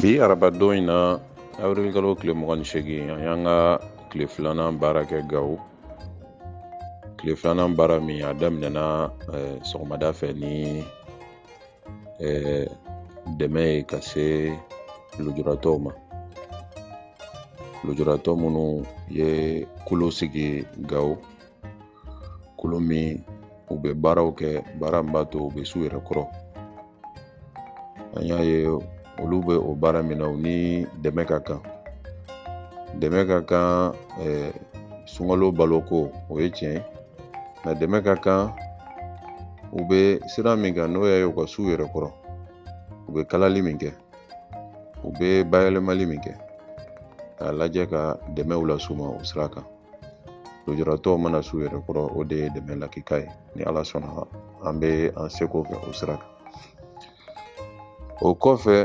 bi arabadon in na awirili kalo tile mugan ni seegin an y'an ka tile filanan baara kɛ gawo tile filanan baara min a daminɛna eh, sɔgɔmada fɛ ni dɛmɛ ye ka se lujuratɔw ma lujuratɔ minnu ye kulu sigi gawo kulu min u bɛ baaraw kɛ baara min b'a to u bɛ s'u yɛrɛ kɔrɔ an y'a ye olu bɛ o baara min na u ni dɛmɛ ka kan dɛmɛ ka kan sunkalo baloko o ye tiɲɛ ye nka dɛmɛ ka kan u bɛ sira min kan n'o ye u ka s'u yɛrɛ kɔrɔ u bɛ kalali min kɛ u bɛ bayɛlɛmali min kɛ k'a lajɛ ka dɛmɛw las'u ma o sira kan lujuratɔw mana s'u yɛrɛ kɔrɔ o de ye dɛmɛ lakika ye ni ala sɔnna an bɛ an seko kɛ o sira kan o kɔfɛ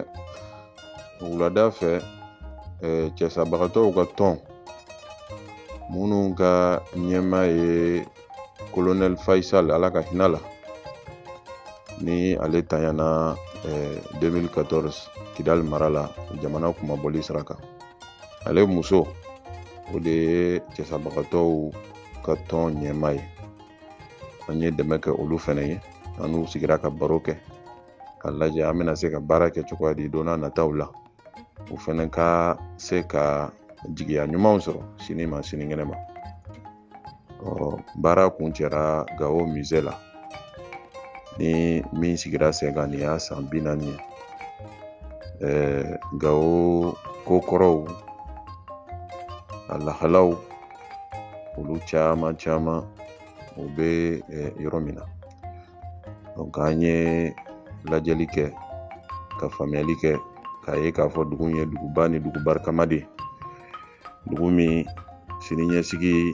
wulada fɛ cɛsabagatɔw ka tɔn minnu ka ɲɛmaa ye kolonɛli fayisali ala ka hin'a la ni ale ta ɲana 2014 kidali mara la jamana kunmabɔli sira kan ale muso o de ye cɛsabagatɔw ka tɔn ɲɛmaa ye an ye dɛmɛ kɛ olu fɛnɛ ye an n'u sigira ka baro kɛ k'a lajɛ an bɛna se ka baara kɛ cogoya di don n'a nataw la u fɛnɛ ka se ka jigiya ɲumanw sɔrɔ sini ma sinikɛnɛ ma baara kuncɛra gawo musée la ni min sigira sen kan nin y'a san bi naani ye ɛɛ gawo kokɔrɔw a lahalaw olu caman caman u bɛ yɔrɔ min na donc an ye lajɛli kɛ ka faamuyali kɛ k'a ye k'a fɔ dugu ye duguba ni dugu barikama de ye dugu min siniɲɛsigi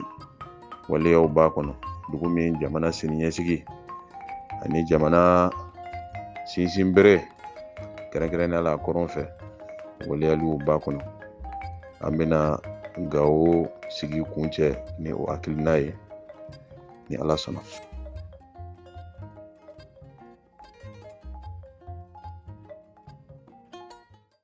waleyaw b'a kɔnɔ dugu min jamana siniɲɛsigi ani jamana sinsinbere kɛrɛnkɛrɛnnenya la a kɔrɔn fɛ waleyaliw b'a kɔnɔ an bɛna gawo sigi kuncɛ ni o hakilina ye ni ala sɔnna